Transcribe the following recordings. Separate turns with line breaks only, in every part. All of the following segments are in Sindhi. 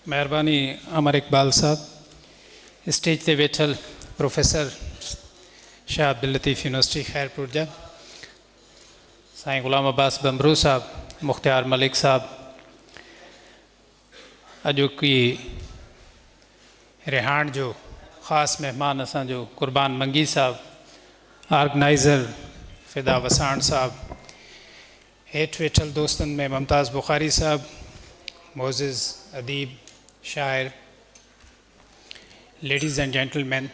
مهرباني امر اقبال صاحب. اسٽيج تي ويٺل پروفيسر شاهه عبداللطيف يونيورسٽي خيرپور جا سائين غلام عباس بمبرو صاحب مختيار ملڪ صاحب اڄوڪي رهاڻ جو خاص مهمان اسان جو قربان منگي صاحب آرگنائزر فدا وساڻ صاحب هيٺ ويٺل دوستن ۾ ممتاز بخاري صاحب، معزز اديب، شاعر، ladies and gentlemen,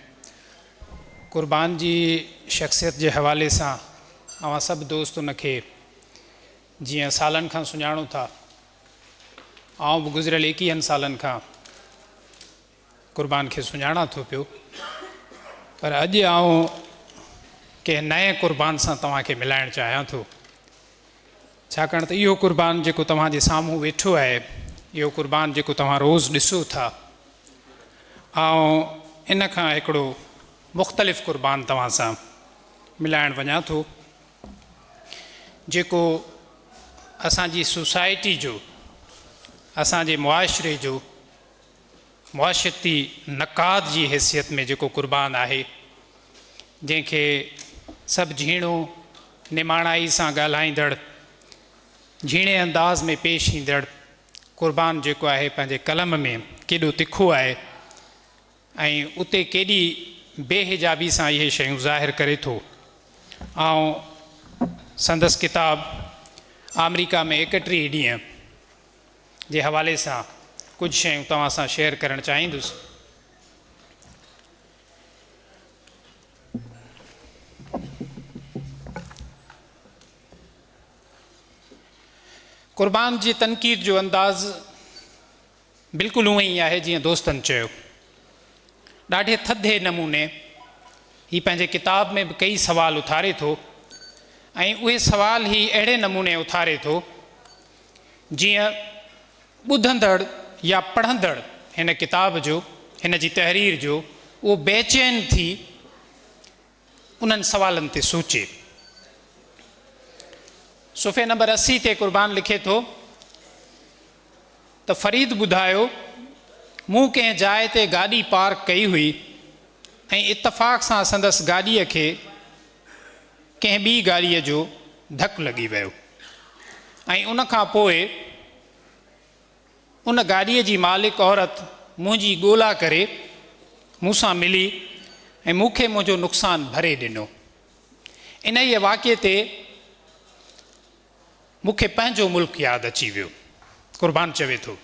Qurban جي شخصيت جي حوالي سان اوهان سڀ دوست ان کي جيئن سالن کان سڃاڻو ٿا، آئون به گذريل ايڪيهن سالن کان قربان کي سڃاڻان ٿو پيو پر اڄ آئون ڪنهن نئين قربان سان توهان کي ملائڻ چاهيان ٿو ڇاڪاڻ ته اهو قربان جيڪو توهان جي سامهون ويٺو آهي اهو قربان جيڪو توهان روز ڏسو ٿا آئون ان کان هڪڙو مختلف قربان توهان سان ملائڻ وڃان ٿو جيڪو اسان جي سوسائٽي جو اسان جي معاشري جو معاشرتي نقاد جي حيثيت ۾ جيڪو قربان آهي، جنهن کي سڀ جهيڻو، نماڻائي سان ڳالهائيندڙ، جهيڻي انداز ۾ پيش ايندڙ قربان جيڪو آهي پنهنجي قلم ۾ ڪيڏو تکو آهي ۽ اتي ڪيڏي بي حجابي سان اهي شيون ظاهر ڪري ٿو. آئون سندس ڪتاب آمريڪا ۾ ايڪٽيهه ڏينهن، جي حوالي سان ڪجهه شيون توهان سان شيئر ڪرڻ چاهيندس. قربان جي تنقيد جو انداز بلڪل اونئين ئي آهي جيئن دوستن چيو. ڏاڍي ٿڌي نموني هي پنهنجي ڪتاب ۾ به ڪئي سوال اٿاري ٿو ۽ اهي سوال هي اهڙي نموني اٿاري ٿو جيئن ٻڌندڙ يا پڙهندڙ هن ڪتاب جو، هن جي تحرير جو اهو بيچين ٿي انهن سوالن تي سوچي. صفحي نمبر اسي تي قربان لکي ٿو ته فريد ٻڌايو مون ڪنهن جاء تي گاڏي پارڪ ڪئي هئي ۽ اتفاق سان سندس گاڏيء کي ڪنهن ٻي گاڏيء جو ڌڪ لڳي ويو ۽ ان کان پوء ان گاڏيء جي مالڪ عورت منهنجي ڳولا ڪري مون سان ملي ۽ مون کي منهنجو نقصان ڀري ڏنو. انهيء واقعي تي مون کي پنهنجو ملڪ ياد اچي ويو. قربان چوي ٿو،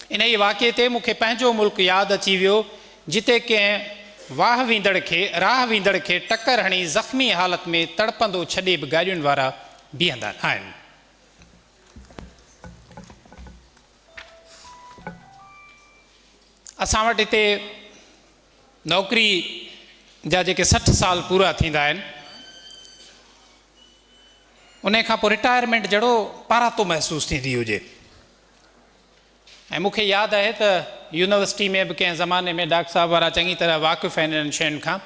انهيء واقعي تي مون کي پنهنجو ملڪ ياد اچي ويو، جتي ڪنهن واهه ويندڙ کي راهه ويندڙ کي ٽڪر هڻي زخمي حالت ۾ تڙپندو ڇڏي به گاڏين وارا بيهندا نه آهن. اسان وٽ هتي نوڪري جا جيڪي سٺ سال پورا ٿيندا آهن، انهيء کان پوء رٽائرمينٽ جهڙو پاراتو محسوس ٿيندي هجي ۽ مون کي ياد آهي ته يونيورسٽي ۾ به ڪنهن زماني ۾ ڊاڪٽر صاحب وارا چڱي طرح واقف آهن انهن شين کان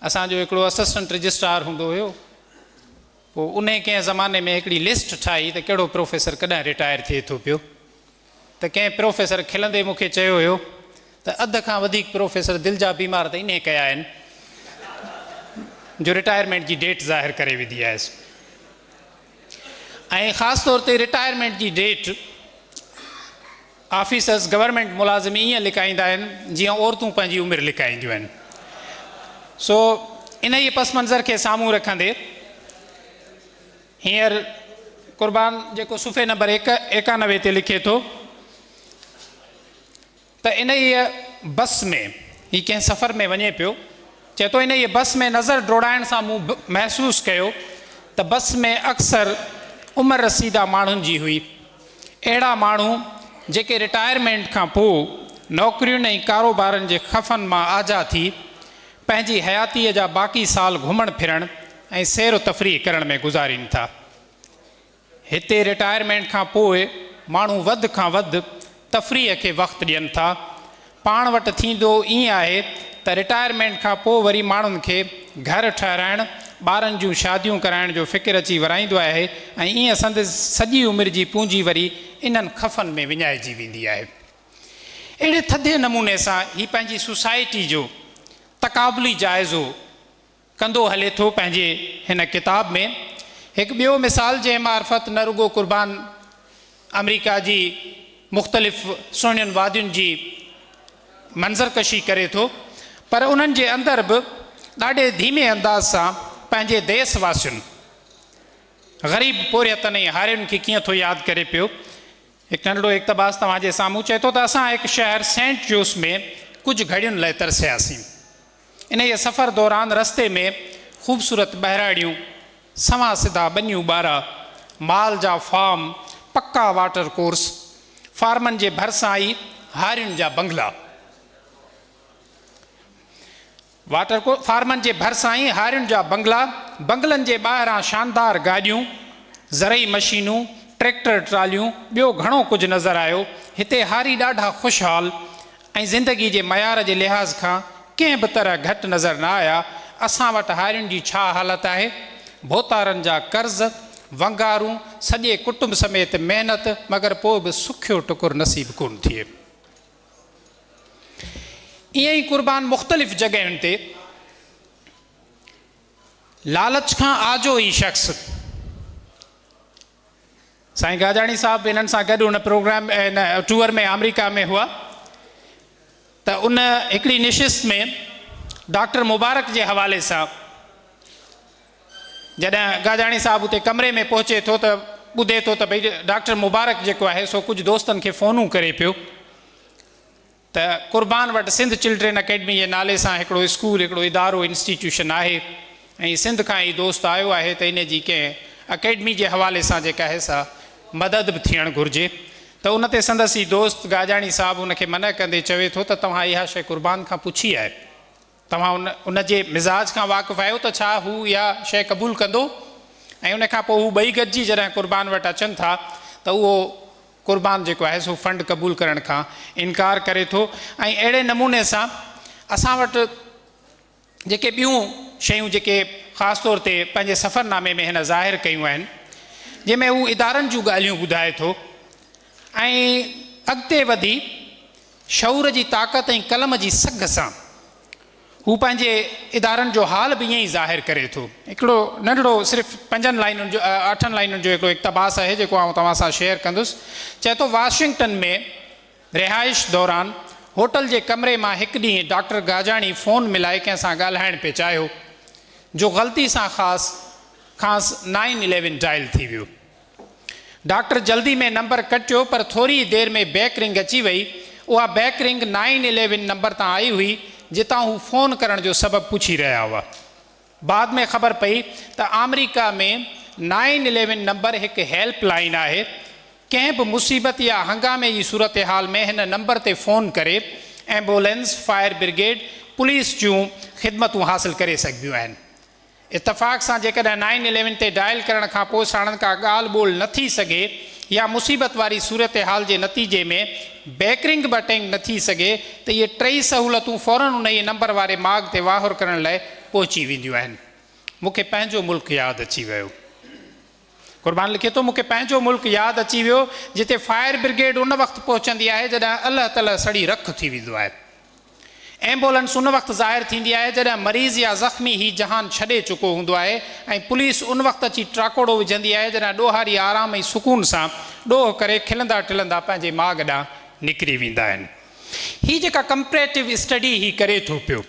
اسان جو هڪڙو اسسٽنٽ رجسٽرار هوندو هيو پوء انهيء ڪنهن زماني ۾ هڪڙي لسٽ ٺاهي ته ڪهڙو پروفيسر ڪڏهن رٽائر ٿئي ٿو پيو ته ڪنهن پروفيسر کلندي مون کي چيو هيو ته اڌ کان وڌيڪ پروفيسر دل جا بيمار ته انهي ڪيا آهن جو رٽائرمينٽ جي ڊيٽ ظاهر ڪري وڌي آهيس ۽ خاص طور تي رٽائرمينٽ جي ڊيٽ آفيسرز گورنمينٽ ملازم ائين لڪائيندا آهن جيئن عورتون پنهنجي عمر لڪائينديون آهن سو انهي پس منظر کي سامهون رکندي هينئر قربان جيڪو صفحي نمبر ايڪانوي تي لکي ٿو ته انهيء بس ۾ هي ڪنهن سفر ۾ وڃي پيو چئي ٿو انهيء بس ۾ نظر ڊوڙائڻ سان مون محسوس ڪيو ته بس ۾ اڪثر عمر رسيده ماڻهن جي هئي اهڙا ماڻهو جيڪي رٽائرمينٽ کان پوء نوڪرين ۽ ڪاروبارن جي خفن مان آجا ٿي پنهنجي حياتيء جا باقي سال گهمڻ ڦرڻ ۽ سير و تفريح ڪرڻ ۾ گذارين ٿا. هتي رٽائرمينٽ کان پوء ماڻهو وڌ کان وڌ تفريح کي وقت ڏين ٿا. پاڻ وٽ ٿيندو ائين آهي ته رٽائرمينٽ کان پوء وري ماڻهن کي گهر ٺهرائڻ، ٻارن جون شاديون ڪرائڻ جو فڪر اچي ورايندو آهي ۽ ائين سندس سڄي عمر جي پونجي وري انهن خفن ۾ وڃائجي ويندي آهي. اهڙي ٿڌي نموني سان هي پنهنجي سوسائٽي جو تقابلي جائزو ڪندو هلي ٿو پنهنجي هن ڪتاب ۾ هڪ ٻيو مثال جنهن معرفت نه رڳو قربان آمريڪا جي مختلف سهڻين وادين جي منظر ڪشي ڪري ٿو پر انهن جي اندر به ڏاڍي ڌيمي انداز سان پنهنجي ديس واسين غريب پورهيتن ۽ هارين کي ڪيئن ٿو ياد ڪري پيو هڪ ننڍڙو اقتباس توهان جي سامهون چئي ٿو ته اسان هڪ شهر سينٽ جوس ۾ ڪجهه گهڙين لاء ترسياسين. انهيء سفر دوران رستي ۾ خوبصورت ٻهراڙيون، سنوان سڌا ٻنيون ٻارا، مال جا فارم، پڪا واٽر ڪورس، فارمن جي ڀرسان ئي هارين جا بنگلا. واٽر ڪو فارمن جي ڀرسان ئي هارين جا بنگلا، بنگلن جي ٻاهران شاندار گاڏيون، زرعي مشينون، ٽريڪٽر ٽراليون، ٻيو گهڻو ڪجهه نظر آيو. هتي هاري ڏاڍا خوشحال ۽ زندگي جي معيار جي لحاظ کان ڪنهن به طرح گهٽ نظر نه آيا. اسان وٽ هارين جي ڇا حالت آهي؟ ڀوتارن جا قرض، ونگارون، سڄي ڪٽنب سميت محنت مگر پوء به سکيو ٽڪر نصيب ڪونه ٿئي. ائين ئي قربان مختلف جڳهين تي لالچ کان آجو ئي شخص سائين گاجاڻي صاحب انهن سان گڏ ان پروگرام ان ٽوئر ۾ آمريڪا ۾ هئا ته ان هڪڙي نشست ۾ ڊاڪٽر مبارڪ جي حوالي سان جڏهن گاجاڻي صاحب اتي ڪمري ۾ پهچي ٿو ته ٻڌي ٿو ته ڀئي ڊاڪٽر مبارڪ جيڪو آهي سو ڪجهه دوستن کي فونون ڪري پيو ته قربان وٽ سنڌ چلڊرين اڪيڊمي جي نالي سان هڪڙو اسڪول هڪڙو ادارو انسٽيٽيوشن آهي ۽ سنڌ کان هي دوست آيو آهي ته ان جي ڪنهن اڪيڊمي جي حوالي سان جيڪا آهي سا مدد به ٿيڻ گهرجي ته ان تي سندس هي دوست گاجاڻي صاحب ان کي منع ڪندي چوي ٿو ته توهان اها شيء قربان کان پڇي آهي توهان ان جي مزاج کان واقف آهيو ته ڇا هو اها شيء قبول ڪندو؟ ۽ ان کان پوء هو ٻئي گڏجي جڏهن قربان وٽ اچن ٿا ته اهو قربان جيڪو آهي سو فنڊ قبول ڪرڻ کان انڪار ڪري ٿو ۽ اهڙي نموني سان اسان وٽ جيڪي ٻيون شيون جيڪي خاص طور تي پنهنجي سفر نامي ۾ هن ظاهر ڪيون آهن جنهن ۾ هو ادارن جون ڳالهيون ٻڌائي ٿو ۽ اڳتي وڌي شعور جي طاقت ۽ قلم جي سگهه سان هو پنهنجي ادارن جو حال به ائين ئي ظاهر ڪري ٿو. هڪڙو ننڍڙو صرف پنجن لائنن جو اٺن لائنن جو هڪڙو اقتباس آهي جيڪو آئون توهان سان شيئر ڪندس. چئي ٿو واشنگٽن ۾ رهائش دوران هوٽل جي ڪمري مان هڪ ڏينهن ڊاڪٽر گاجاڻي فون ملائي ڪنهن سان ڳالهائڻ پئي چاهيو جو غلطي سان خاص کانئس نائين اليون ڊائل ٿي ويو. ڊاڪٽر جلدي ۾ نمبر ڪٽيو پر ٿوري ئي دير ۾ بيڪ رنگ اچي وئي. اها back ring nine eleven number تان آئي هئي جتان هو فون ڪرڻ جو سبب پڇي رهيا هئا. بعد ۾ خبر پئي ته آمريڪا ۾ نائن اليون نمبر هڪ هيلپ لائين آهي. ڪنهن به مصيبت يا هنگامي جي صورتحال ۾ هن نمبر تي فون ڪري ايمبولينس، فائر برگيڊ، پوليس جون خدمتون حاصل ڪري سگهبيون آهن. اتفاق سان جيڪڏهن نائن اليون تي ڊائل ڪرڻ کان پوء ساڻن ڪا ڳالهه ٻولهه نه ٿي سگهي يا مصيبت واري صورتحال جي نتيجي ۾ بيڪ رنگ به اٽينڊ نه ٿي سگهي ته اهي ٽئي سهولتون فورا انهيء نمبر واري ماڳ تي واهر ڪرڻ لاء پهچي وينديون آهن. مون کي پنهنجو ملڪ ياد اچي ويو. قربان لکي ٿو، مون کي پنهنجو ملڪ ياد اچي ويو، جتي فائر برگيڊ ان وقت پهچندي آهي جڏهن الهه تلهه سڙي رک ٿي ويندو آهي. ايمبولنس ان وقت ظاهر ٿيندي آهي جڏهن مريض يا زخمي هي جهان ڇڏي چڪو هوندو آهي ۽ پوليس ان وقت اچي ٽراڪوڙو وجهندي آهي جڏهن ڏوهاري آرام ۽ سڪون سان ڏوهه ڪري کلندا ٽلندا پنهنجي ماڳ ڏانهن نڪري ويندا آهن. هي جيڪا ڪمپريٽو اسٽڊي هي ڪري ٿو پيو.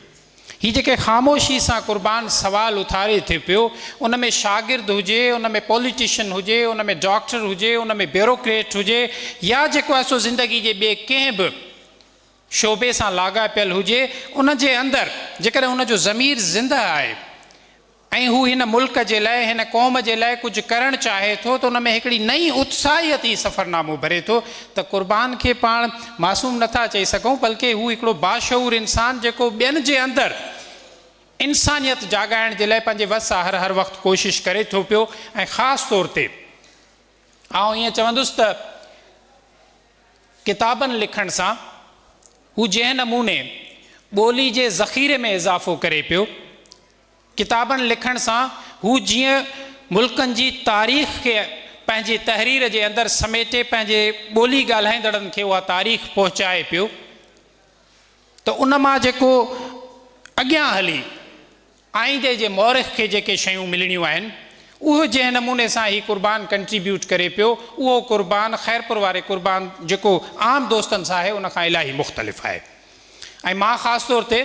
هي جيڪي خاموشي سان قربان سوال اٿاري ٿي پيو، ان ۾ شاگرد هجي، ان ۾ پوليٽيشن هجي، ان ۾ ڊاڪٽر هجي، ان ۾ بيوروڪريٽ هجي يا جيڪو آهي سو زندگي جي ٻئي ڪنهن به شعبي سان لاڳاپيل هجي، ان جي اندر جيڪڏهن ان جو ضمير زنده آهي، ۽ هو هن ملڪ جي لاء، هن قوم جي لاء ڪجهه ڪرڻ چاهي ٿو ته ان ۾ هڪڙي نئين اتساهيت هي سفرنامو ڀري ٿو ته قربان کي پاڻ معصوم نه ٿا چئي سگهون بلڪه هو هڪڙو باشعور انسان جيڪو ٻين جي اندر انسانيت جاڳائڻ جي لاء پنهنجي وس آهر هر وقت ڪوشش ڪري ٿو پيو ۽ خاص طور تي آئون ائين چوندس ته ڪتابن لکڻ سان هو جنهن نموني ٻولي جي ذخيري ۾ اضافو ڪري پيو. ڪتابن لکڻ سان هو جيئن ملڪن جي تاريخ کي پنهنجي تحرير جي اندر سميٽي پنهنجي ٻولي ڳالهائيندڙن کي اها تاريخ پهچائي پيو ته ان مان جيڪو اڳيان هلي آئيندي جي مورخ کي جيڪي شيون ملڻيون آهن اهو جنهن نموني سان هي قربان ڪنٽريبيوٽ ڪري پيو اهو قربان خيرپور واري قربان جيڪو عام دوستن سان آهي ان کان الاهي مختلف آهي ۽ مان خاص طور تي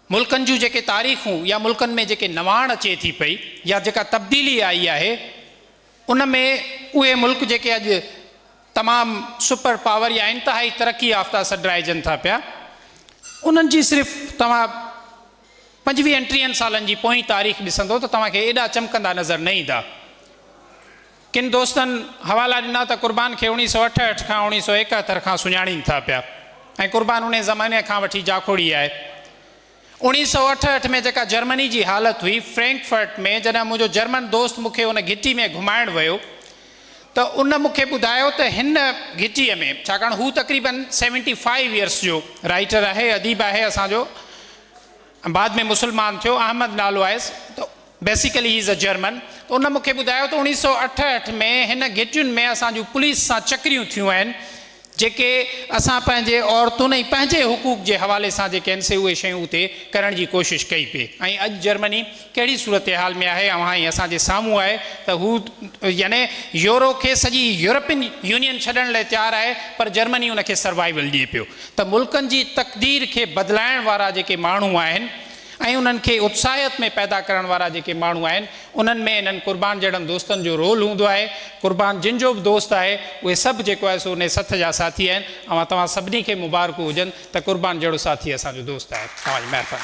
ملڪن جون جيڪي تاريخون يا ملڪن ۾ جيڪي نواڻ اچي ٿي پئي يا جيڪا تبديلي آئي آهي ان ۾ اهي ملڪ جيڪي اڄ تمام سپر پاور يا انتهائي ترقي يافته سڏرائجن ٿا پيا انهن جي صرف توهان پنجويهن ٽيهن سالن جي پوئين تاريخ ڏسندو ته توهان کي ايڏا چمڪندا نظر نه ايندا. ڪن دوستن حوالا ڏنا ته قربان کي اوڻيھ سؤ اٺهٺ کان اوڻيھ سؤ ايڪهتر کان سڃاڻين ٿا پيا ۽ قربان انهيء زماني کان وٺي جاکوڙي آهي. اوڻيھ سؤ اٺهٺ ۾ جيڪا جرمني جي حالت هئي، فرينڪفرٽ ۾ جڏهن منهنجو جرمن دوست مون کي ان گهٽي ۾ گهمائڻ ويو ته ان مون کي ٻڌايو ته هن گهٽيء ۾ ڇاڪاڻ هو تقريبن سيونٽي فائيو يئرس جو رائيٽر آهي، اديب آهي اسان جو، بعد ۾ مسلمان ٿيو، احمد نالو آيس، ته basically he is a German, ته ان مونکي ٻڌايو ته اوڻيهه سؤ اٺهٺ ۾ هن گهٽين ۾ اسان جون پوليس سان چڪريون ٿيون آهن، جيڪي اسان پنهنجي عورتن ۽ پنهنجي حقوق جي حوالي سان جيڪي آهن سي اهي شيون اتي ڪرڻ جي ڪوشش ڪئي پئي ۽ اڄ جرمني ڪهڙي صورتحال ۾ آهي اوهان ۽ اسان جي سامهون آهي ته هو يعني يورو کي سڄي يورپين يونين ڇڏڻ لاء تيار آهي پر جرمني ان کي سروائيول ڏئي پيو ته ملڪن جي تقدير کي بدلائڻ وارا جيڪي ماڻهو آهن ۽ انهن کي اتساهيت ۾ پيدا ڪرڻ وارا جيڪي ماڻهو آهن انهن ۾ انهن قربان جهڙن دوستن جو رول هوندو آهي قربان جن جو به دوست آهي اهي سڀ جيڪو آهي سو انهي سٿ جا ساٿي آهن اوهان توهان سڀني کي مبارڪون هجن ته قربان جهڙو ساٿي اسان جو دوست آهي. توهان جي مهرباني.